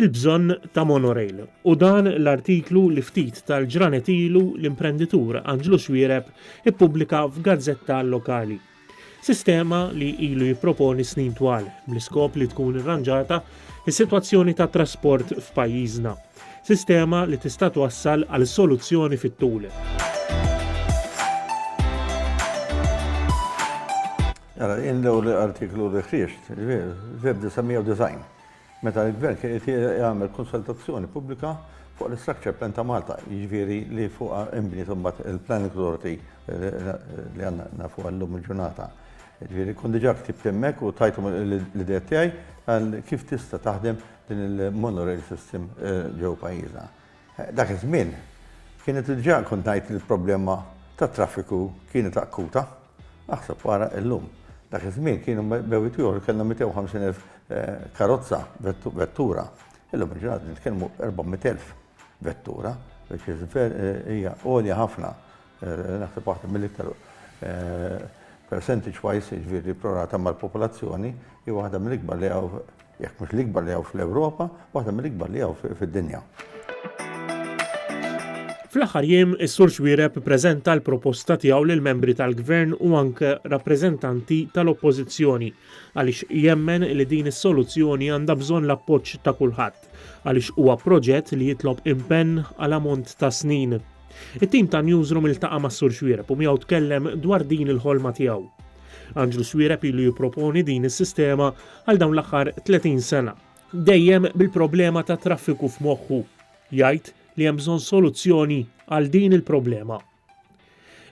il-bżonn ta' monorail u dan l-artiklu li ftit tal-ġranet ilu l-imprenditur Anġlu Xwiereb ippubblika f'gazzetta lokali sistema li ilu jipproponi snin twal bl-iskop li tkun irranġata s-sitwazzjoni tat-trasport f'pajjiżna, sistema li tista' twassal għal soluzzjoni fit-tul. Ara, in l-ewwel artiklu li ħriġt, f'Eb. 1990. Meta l-Gvern kien qed jagħmel konsultazzjoni pubblika fuq l-Structure Plan ta' Malta, jiġifieri li fuqha inbniet imbagħad il-Planning Authority li għandna nafuha llum il-ġurnata. Jiġifieri kont diġà ktibt hemmhekk u tajthom l-ideat tiegħi għal kif tista' taħdem din il-monorail system ġewwa pajjiżna. Dak iż-żmien, kienet diġà kont ngħid li l-problema tat-traffiku kienet akuta. Aħseb ara illum. Dak iż-żmien kienu bewwiet ieħor kellna 250,000 karozza, vettura. Illum il-ġurnata nitkellmu 400,000 vettura, which is hija għolja ħafna. Naħseb waħda mill-iktar percentage wise, jiġifieri pro rata mal-popolazzjoni, hi waħda mill-ikbar li hawn, jekk mhux l-ikbar li hawn fl-Ewropa, waħda mill-ikbar li hawn fid-dinja. Fl-aħħar jiem, is-Sur Xuereb ippreżenta l-proposta tiegħu lill-membri tal-Gvern u anke rappreżentanti tal-Oppożizzjoni għaliex jemmen li din is-soluzzjoni għandha bżonn l-appoġġ ta' kulħadd. għaliex huwa proġett li jitlob impenn għal ammont ta' snin. It-tim ta' Newsroom iltaqa' mas-Sur Xuereb u miegħu tkellem dwar din il-ħolma tiegħu. Anġlu Xuereb ilu jipproponi din is-sistema għal dawn l-aħħar 30 sena. Dejjem bil-problema tat-traffiku f'moħħu, jgħid li hemm bżonn soluzzjoni għal din il-problema.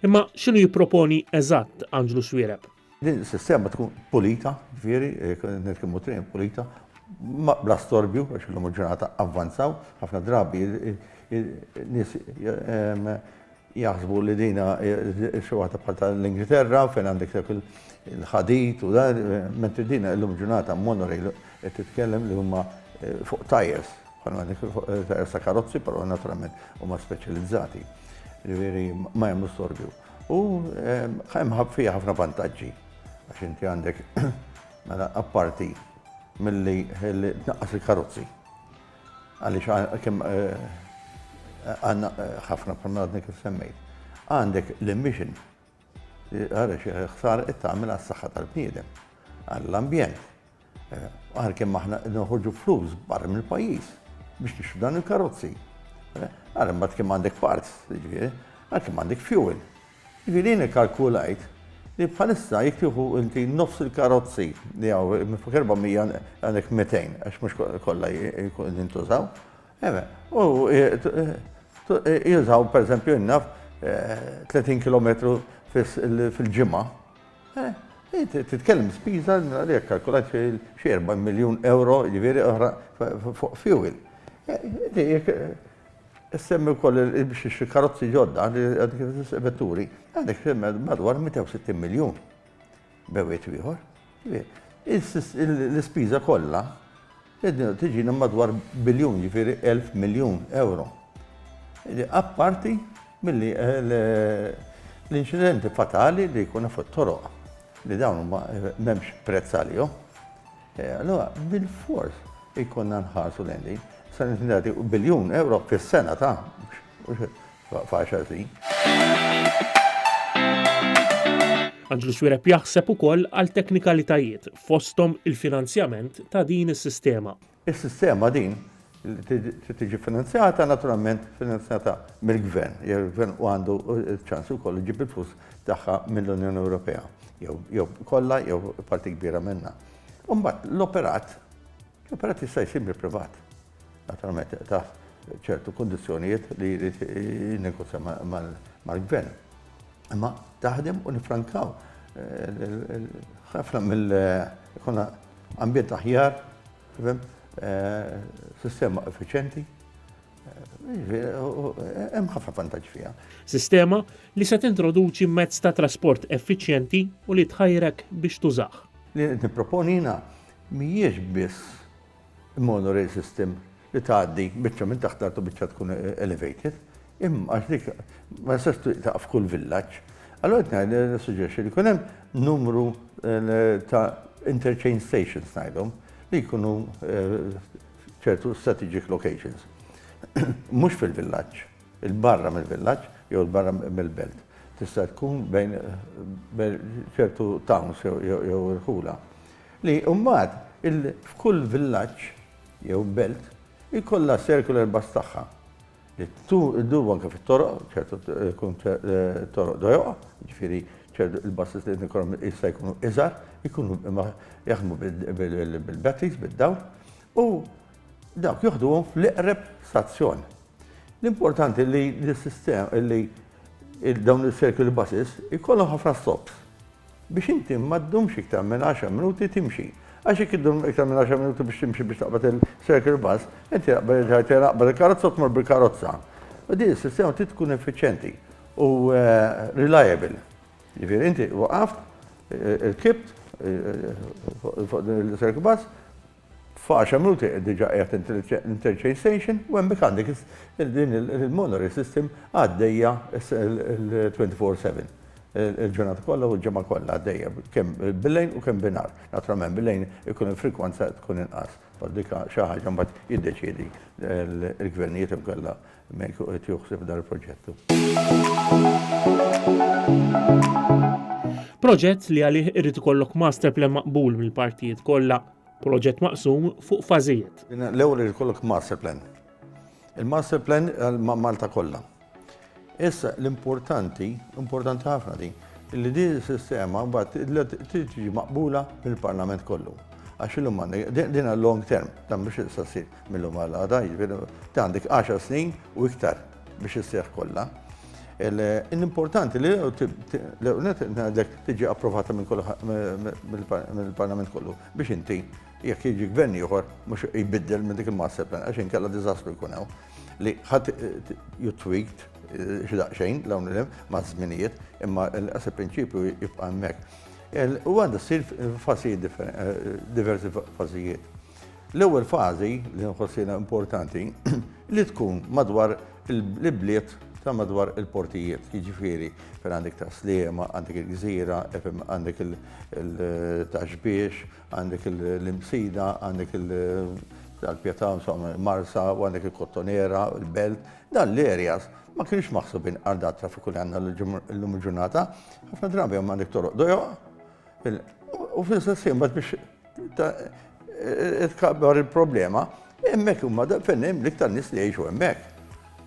Imma x'inhu jipproponi eżatt Anġlu Xuereb? Din is-sistema tkun pulita, ġifieri, nitkellmu triq pulita, bla storbju, għax illum il-ġurnata avvanzaw, ħafna drabi nies jaħsbu li dina xi waħda bħal tal-Ingilterra fejn għandek dak il-ħadid u dan, mentri dina illum il-ġurnata monorail qed titkellem li huma fuq tajers, bħal għandek tajers ta' karozzi, però naturalment huma speċjalizzati. Ġifieri ma jagħmlu storbju. U hemm fiha ħafna vantaġġi għax inti għandek mela apparti milli tnaqqas il-karozzi. Għaliex kemm għandna ħafna bħalma għadni kif semmejt. Għandek l-emission għaliex ħsar it-tagħmel għas-saħħa tal-bniedem, għall-ambjent. Għalkemm aħna qed noħorġu flus barra mill-pajjiż biex nixtru dan il-karozzi. Għalkemm mbagħad kemm għandek parts, jiġifieri, għalkemm għandek fuel. Jiġifieri jien kalkulajt li bħalissa jekk tieħu inti nofs il-karozzi li hawn minn fuq 400 għandek 200 għax mhux kollha jkun jintużaw. U jużaw pereżempju innaf 30 km fil-ġimgħa. Titkellem spiża li jekk kalkulat xi 40 miljun ewro jiġifieri oħra fuq fuel. Issemmi wkoll biex ixtri karozzi ġodda għandek vetturi, għandek madwar 160 miljun bewwiet ieħor. L-ispiża kollha Id-dinja tiġina madwar biljun, jiġifieri elf miljun ewro. Apparti milli l-inċidenti fatali li jkun hemm fuq it-toroq li dawn huma m'hemmx prezz għalihom. Allura bilfors ikollna nħarsu lejn din. Sa nagħti biljun ewro fis-sena ta' F'għaxar snin. Anġlu Swireb jaħseb ukoll għal teknikalitajiet fosthom il-finanzjament ta' din is-sistema. Is-sistema din li tiġi finanzjata naturalment finanzjata mill-gvern, jew il-gvern u għandu ċans ukoll iġib il-flus tagħha mill-Unjoni Ewropea, jew kollha jew parti kbira minnha. Imbagħad l-operat, l-operat jista' jsir mill-privat. Naturalment taħt ċertu kundizzjonijiet li jrid negozja mal-gvern. Imma taħdem u nifrankaw ħafna mill konna ambjent aħjar, eh, sistema effiċenti, hemm ħafna vantaġġ fiha. Sistema li se tintroduċi mezz ta' trasport effiċjenti u li tħajrek biex tużah. Li nipproponi jiena mhijiex biss Monorail system li tgħaddi biċċa minn taħt l-art u biċċa tkun elevated, imma għax dik ma tistax tieqa' f'kull villaġġ. Allura qed ngħid li nissuġġerixxi li jkun hemm numru ta' interchange stations ngħidhom li jkunu f'ċertu strategic locations. Mhux fil-villaġġ, il-barra mill-villaġġ jew il-barra mill-belt. Tista' tkun bejn ċertu towns jew irħula. Li mbagħad il f'kull villaġġ jew belt ikollha s-circular bus tagħha li ddum anke fit-toroq, ċertu jkun toroq dojoqa, jiġifieri ċertu il-buses li qed ikollhom jista' jkunu iżgħar, ikunu jaħdmu bil-batteries, bid-dawl, u dawk joħduhom fl-iqreb stazzjon. L-importanti li l-sistema li dawn is-circular buses ikollhom ħafna stops. biex inti ma ddumx iktar minn għaxar minuti timxi. Għax jekk iddum iktar minn għaxar minuti biex timxi biex taqbad il-circle bus, inti taqbad il-karozza u tmur bil-karozza. U din is-sistema trid tkun effiċjenti u reliable. Jiġifieri inti waqaft, irkibt fuq din il-circle bus, F'għaxar minuti qed diġà qiegħed l-interchange station u hemmhekk għandek din il-monorail system għaddejja twenty four seven. Il-ġurnata kollha u l-ġimgħa kollha għaddejja kemm bil-lejl u kemm bin-nhar. Naturalment bil-lejl ikun hemm frekwenza tkun inqas. Però dik xi ħaġa mbagħad jiddeċiedi l-gvernijiet jew inkella Mejk u qed joħseb dal-proġett hu. Proġett li għalih irrid ikollok master plan maqbul mill-partijiet kollha. Proġett maqsum fuq fażijiet. L-ewwel irid ikollok master plan. Il-master plan għal Malta kollha. Issa l-importanti, importanti ħafna din, li din is-sistema mbagħad trid tiġi maqbula mill-Parlament kollu. Għax illum għandek din għal long term, dan biex issa ssir. mill-lum għal għada, jiġifieri ta' għandek 10 snin u iktar biex isseħ kollha. L-importanti li l-ewnet ngħidlek tiġi approvata mill-Parlament kollu biex inti jekk jiġi gvern ieħor mhux jbiddel minn dik il-master plan għax inkella diżastru jkun hawn li ħadd you tweaked x'daqsxejn l-hawn ma' żminijiet imma l-qasib prinċipju jibqa' hemmhekk. U għandha ssir f'fażijiet diversi fażijiet. L-ewwel fażi li nħoss jiena importanti li tkun madwar l-ibliet ta' madwar il-portijiet, jiġifieri fejn għandek ta' Sliema, għandek il-Gżira, għandek il-Taxbiex, għandek l-Imsida, għandek il-Pjata, Marsa, u għandek il-Kottonera, il-Belt. Dan l-areas ma kienx maħsubin għal dan traffiku li għandna llum il-ġurnata. Ħafna drabi hemm għandek toroq dojoq u fl-istess ħin bad biex Tkabbar il-problema, hemmhekk huma fejn hemm l-iktar nies li jgħixu hemmhekk.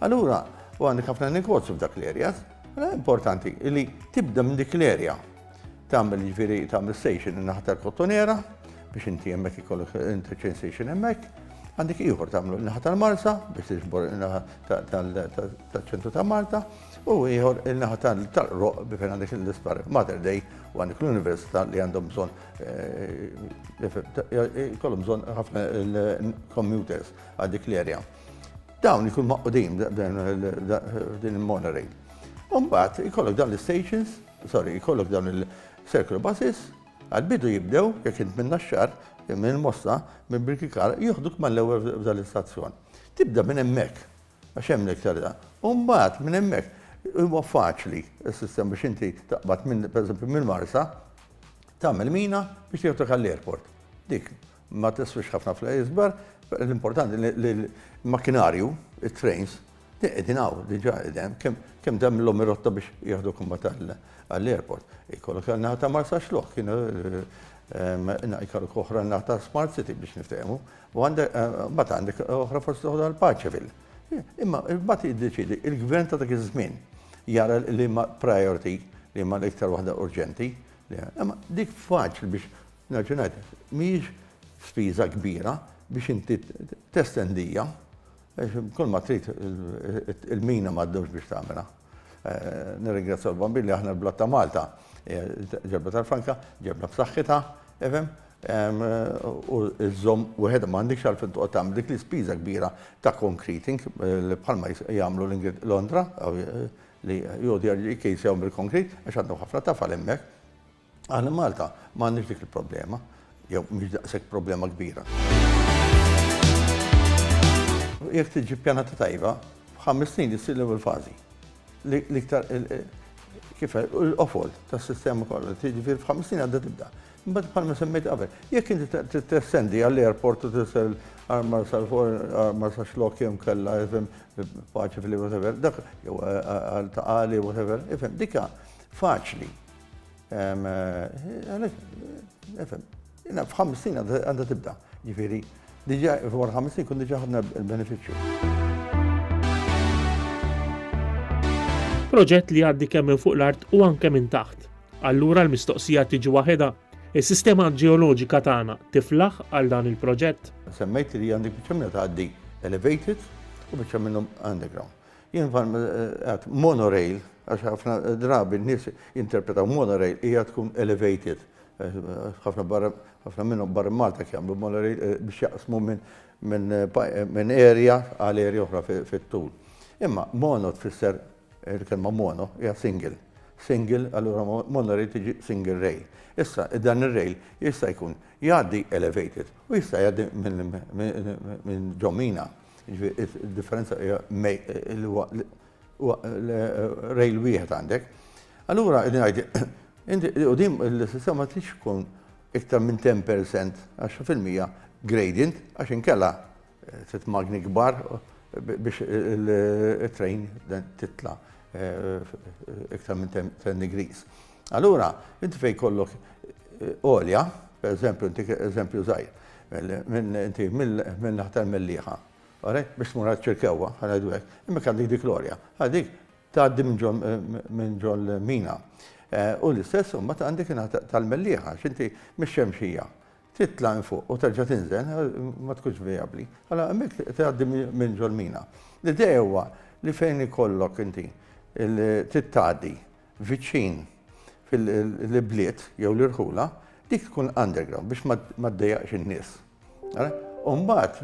Allura, u għandek ħafna negozju f'dak l-areas, mela importanti li tibda minn dik l-area tagħmel ġifieri tagħmel station in-naħa tal-Kottonera biex inti hemmhekk ikollok interchange station hemmhekk, għandek ieħor tagħmlu in-naħa tal-Marsa biex tiġbor in-naħa tal-ċentru ta' Malta u ieħor in-naħa tal-Roq biex għandek l-Ispar Mater Dei u għandek l-Università li għandhom bżonn Kollum bżon ħafna il-computers għal dik l-erja. Dawn ikun maqqudin din il-monitoring. Umbat, ikollok dawn l-stations, sorry, ikollok dawn il-circle buses, għal-bidu jibdew, jek int minna xar, minn mossa, minn birkikar, jihduk mal-ewel f'dan l-istazzjon. Tibda minn emmek, Għax hemm l-iktar. U mbagħad minn hemmhekk huwa faċli s-sistema biex inti taqbad minn pereżempju mill-Marsa tagħmel mina biex tieħdek għall-airport. Dik ma tiswix ħafna fl-isbar, l-importanti li l-makkinarju, it-trains, qegħdin hawn diġà qegħdin kemm dam l rotta biex jieħdu kumma għall-airport. Ikollok għal-naħa ta' Marsa xlok, kienu eh, eh, ikollok oħra naħa ta' Smart City biex niftehmu. U għandek, mbagħad għandek oħra fost oħra l-Paċevil. Imma mbagħad jiddeċidi il-gvern ta' dak iż-żmien jara li ma priority li ma l-iktar waħda urġenti. Imma dik faċli biex naġunajt, mhijiex spiża kbira biex inti testendija, kull ma trid il-mina m'għaddux biex tagħmilha. Nirringrazzja l-bambin li aħna l-blat ta' Malta ġebna tal-Franka, ġebna b'saħħitha, ifhem, u żżomm wieħed ma għandekx għalfejn toqgħod tagħmel dik l-ispiża kbira ta' concreting bħalma jagħmlu Londra li jgħodu jkejjsewhom bil-concrete għax għandhom ħafna tafal hemmhekk. Aħna f'Malta ma għandniex dik il-problema, jew mhix daqshekk problema kbira. Jekk tiġi pjanata tajba, f'ħames snin jissir l-ewwel fażi. L-iktar kif l-qofol tas-sistema kollha li tiġi fil f'ħames snin għadda tibda. Imbagħad bħalma semmejt qabel, jekk inti tessendi għall-airport u tisel armar sal armar sa xlok jem kella ifhem paċi fil whatever, dak jew għal taqali whatever, ifhem dika faċli. F'50 għandha tibda, ġifieri diġà wara 50 kun diġà ħadna l-benefiċċju. Proġett li għaddi kemm minn fuq l-art u anke minn taħt. Allura l-mistoqsija tiġi waħedha, is-sistema ġeoloġika tagħna tiflaħ għal dan il-proġett? Semmejt li għandek biċċa minnha tgħaddi elevated u biċċa minnhom underground. Jien bħal ma għedt, monorail, għax ħafna drabi n-nies jinterpretaw monorail hija tkun elevated. Ħafna barra, ħafna minnhom barra Malta jagħmlu monorail eh, biex jaqsmu minn area għal area oħra fit-tul. Imma mono tfisser il-kelma mono hija single. Single, allura monorail tiġi single rail. Issa, dan ir-rail jista' jkun jgħaddi elevated u jista' jgħaddi minn ġomina. Jiġifieri d-differenza hija li huwa rail wieħed għandek. Allura qed ngħid u din il-sistema ma tridx tkun iktar minn 10% għax fil-mija gradient għax inkella trid magni kbar biex it-train titla' iktar minn 10 degrees. Allura, inti fejn jkollok għolja, pereżempju, inti eżempju żgħir, inti minn naħta l-Mellieħa, biex tmur għaċ-Ċirkewwa, ħanajdu hekk, imma għandek dik l-għolja, dik tgħaddi minn ġol mina. U l-istess imbagħad għandek naħta tal-Mellieħa, x'inti mix-Xemxija, titla' minn fuq u terġa' tinżel, ma tkunx vijabbli. Allora hemmhekk tgħaddi minn ġol mina. L-idea huwa li fejn ikollok inti trid tgħaddi viċin l-ibliet jew l-irħula, dik tkun underground biex ma ddejjaqx in-nies. U mbagħad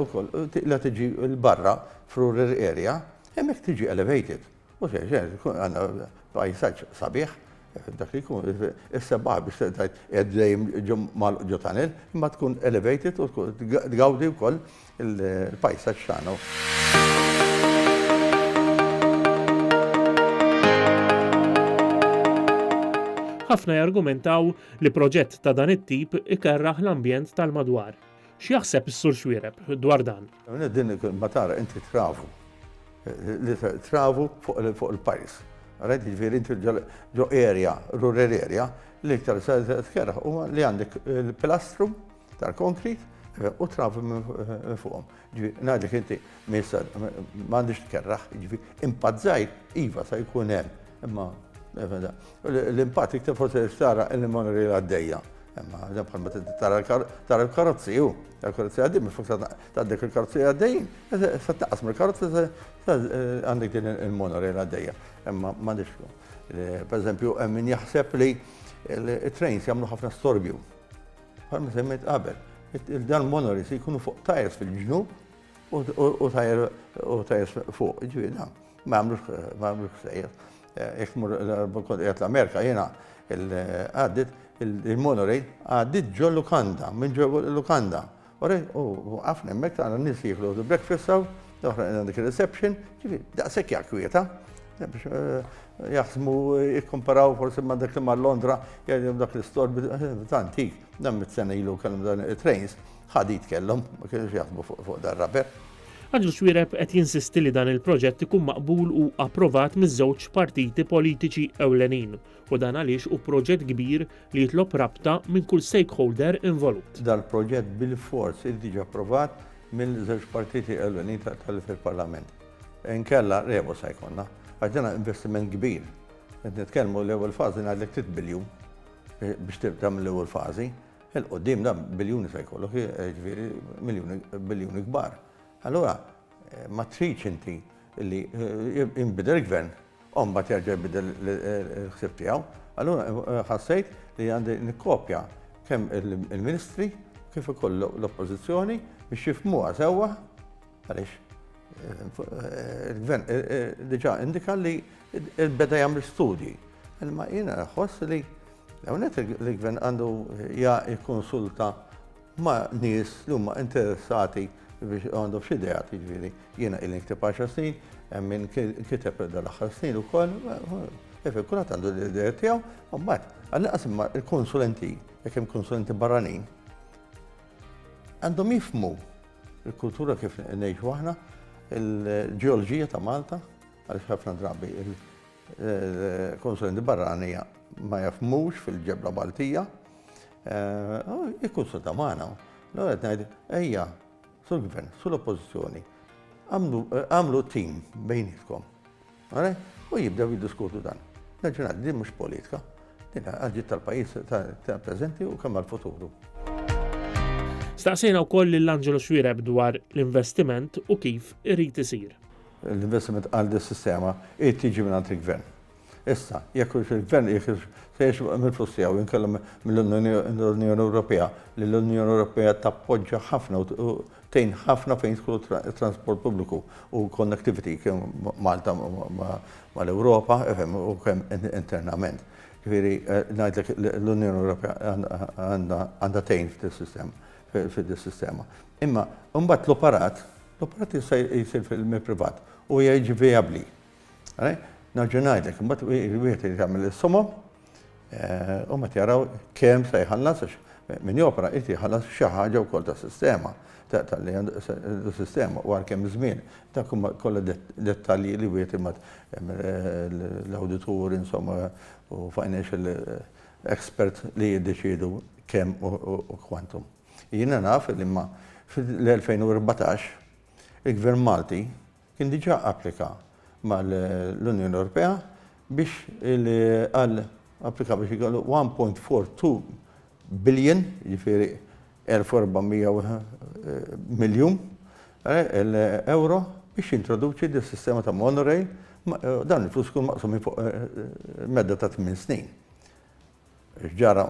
ukoll la tiġi l-barra f'rural area, hemmhekk tiġi elevated. U se tkun għandna pajsaġġ sabiħ, dak li jkun is-sebbaħ biex tgħid qed dejjem ġo tunnel, imma tkun elevated u tgawdi wkoll Il-pajsaġġ tagħna hu. Ħafna jargumentaw li proġett ta' dan it-tip ikerrah l-ambjent tal-madwar. X'jaħseb is-Sur Xuereb dwar dan? Din ma tara inti travu. Travu fuq il-pajs. Rajt jiġifieri inti ġo area, rural area, l-iktar se tkerrah huwa li għandek il-pilastru, tal-konkrit eh, u travi minn eh, fuqhom. Ngħidlek inti misa m'għandix tkerraħ, ġifi impazzaj iva sa jkun hemm, imma eh, l-impatt iktar forsi xtara il-monori għaddejja. Imma għadem bħal ma tara l-karozzi ju, l-karozzi għaddim, fuq ta' dik il-karozzi għaddejjin, sa taqas mill karozzi għandek din il-monori għaddejja. Imma m'għandix. Per eżempju, min jaħseb li il-trains jagħmlu ħafna storbju. Bħalma semmejt qabel, dan monoris jkunu fuq tajers fil-ġnub u tajers fuq, ġifieri dan ma għamlux sejjer. Jekk mur l-Kontinent l-Amerika jiena għaddit il-monorej għaddit ġo lukanda, minn ġo lukanda. U għafna hemmhekk tara nies jieklu breakfast Oħra għandna dik il-reception, ġifieri daqshekk hija kwieta. Biex eh, jaħsmu jikkomparaw forsi ma' dak li mar Londra, jgħidhom dak l-istor antik, dan mit-sena ilu kellhom dan it-trains, ħadit kellhom, ma kienux jaħsbu fuq dar raber. Għadġu xwireb qed jinsisti li dan il-proġett ikun maqbul u approvat miż-żewġ partiti politiċi ewlenin u dan għaliex hu proġett kbir li jitlob rabta minn kull stakeholder involut. Dal-proġett bilfors irid jiġi approvat mill-żewġ partiti ewlenin fil-Parlament. Inkella rebusa jkollna, għax dan investiment kbir. Qed nitkellmu l-ewwel fażi ngħidlek trid biljun eh, biex tagħmel l-ewwel fażi. Il-qudiem dan biljuni se jkollok, eh, ġifieri biljuni kbar. Allura, Ma tridx inti li jinbidel il-gvern u mbagħad jerġa' jbidel il-ħsieb tiegħu. Allura ħassejt li għandi nikkopja kemm il-ministri kif ukoll l-oppożizzjoni biex jifmuha sewwa għaliex il-gvern diġà indika li beda jagħmel studji. Imma jiena ħoss li hawnhekk il-gvern għandu jikkonsulta ma' nies li huma interessati biex għandhom xi ideat, jiġifieri jiena ili nikteb għaxar snin, hemm min kiteb dal-aħħar snin ukoll, jiġifieri kulħadd għandu l-ideat tiegħu, u mbagħad għall-inqas imma l-konsulenti, jekk hemm konsulenti barranin, għandhom jifhmu l-kultura kif ngħixu aħna, il-ġeoloġija ta' Malta, għaliex ħafna drabi il-konsulenti barranija ma jafmux fil-ġebla Maltija, Ikkunsulta magħna. Allura qed ngħid, ejja, sur Gvern, sur Oppożizzjoni, agħmlu tim bejnietkom. U jibdew jiddiskutu dan. Naġġunat, din mhux politika, din għadġit tal-pajjiż tal-preżenti u kemm għal-futuru. Staqsejna wkoll lil Angelo Xwireb dwar l-investiment u kif irid isir. L-investiment għal dis-sistema irid tiġi mingħand il-Gvern. Issa, jekk hux il-Gvern qiegħed hux se jixbaq mill-flus tiegħu jew inkella mill-Unjoni Ewropea, li l-Unjoni Ewropea tappoġġa ħafna u tgħin ħafna fejn jidħlu t-transport pubbliku u l-connectivity kemm Malta mal-Ewropa u kemm internament. Ġifieri ngħidlek l-Unjoni Ewropea għandha tgħin f'dis-sistema. Imma mbagħad l-operat, l-operat jista' jsir mill-privat u huwa jiġi vijabbli. Nerġa' ngħidlek, imbagħad wieħed irid jagħmel is-somom u mbagħad jaraw kemm se jħallas għax min jopra jrid jħallas xi ħaġa wkoll tas-sistema tal-li għandu sistema u għal kemm żmien. Dak huma kollha dettalji li wieħed imbagħad l-awditur insomma u financial expert li jiddeċiedu kemm u kwantum. Jiena naf li imma fl-2014 il-Gvern Malti kien diġà applika mal-Unjoni Ewropea biex għal applika biex ikollu 1.42 billion, jiġifieri 1400 miljun euro biex jintroduċi din sistema ta' monorail, dan il-flus ikun maqsum fuq medda ta' tmien snin. X'ġara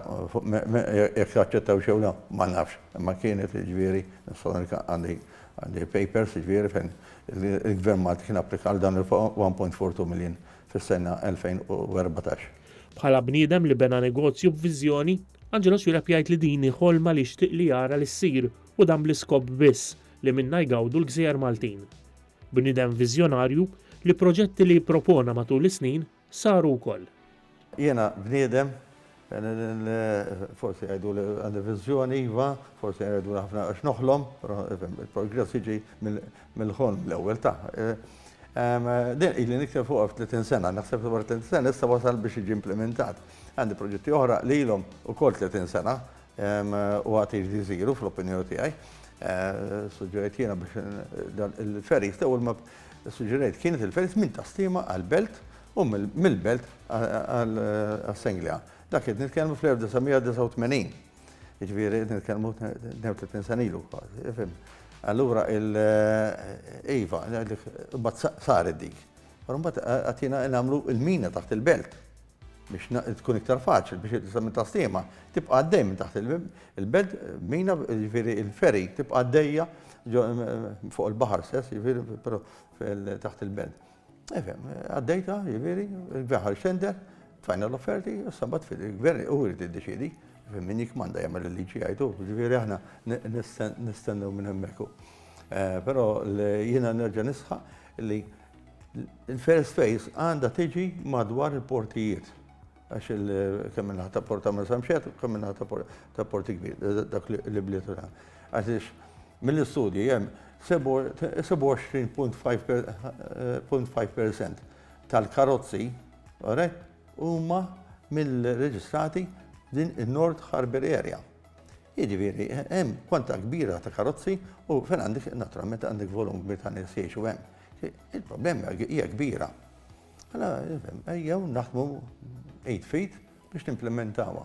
jekk taċċettawx jew le ma nafx, imma kienet jiġifieri għandi papers jiġifieri fejn il-Gvern Malti kien applika għal dan il-one point four two million fis-sena 2014. Bħala bniedem li bena negozju b'viżjoni, Angelo Swieleb jgħid li din hi ħolma li jixtieq li jara li ssir u dan bl-iskop biss li minnha jgawdu l-gżejjer Maltin. Bniedem viżjonarju li proġetti li jippropona matul is-snin saru wkoll. Jiena bniedem li forsi jgħiduli għandi viżjoni, iva, forsi jgħiduli ħafna għax noħlom, però il-progress jiġi mill-ħolm l-ewwel ta'. Din ili nikteb fuqha f'30 sena, naħseb li wara 30 sena issa wasal biex jiġi implimentat. Għandi proġetti oħra li ilhom ukoll 30 sena U għad irid iżiru fl-opinjoni tiegħi, suġġerejt jiena biex dan il-ferries l-ewwel ma suġġerejt kienet il-ferries minn Tasliema għall-Belt u mill-Belt għas-Senglea. Dak qed nitkellmu fl-1989. Jiġifieri qed nitkellmu 32 sena ilu kważi, fim. Allura iva, mbagħad saret dik. Però mbagħad għad jiena nagħmlu l-mina taħt il-Belt. biex tkun iktar faċli biex it-tisgħa minn Taslima tibqa' għaddej minn taħt il-belt, mina, jiġifieri il-ferry tibqa' għaddejja fuq il-baħar stess, jiġifieri però taħt il-belt. Efhem, għaddejta, jiġifieri, il-baħar xender, tfajna l-offerti, issa mbagħad fil-gvern u jrid iddeċiedi min jikmanda jagħmel il-liġi għajdu, ġifieri aħna nistennew minn hemmhekk. Però jiena nerġa' nisħaq li Il-first phase għandha tiġi madwar il-portijiet għax kemm minnaħa ta' Porta ma' Samxet, kemm minnaħa ta' Porti Kbir, dak li bliet uran. Għax mill-istudji jem 27.5% tal-karozzi huma mill-reġistrati din il-North Harbour Area. Jiġifieri, hemm kwantità kbira ta' karozzi u fejn għandek, naturalment, għandek volum kbir ta' nies jgħixu hemm. Il-problema hija kbira. Mela, ejjew naħdmu id f'id biex nimplementawha.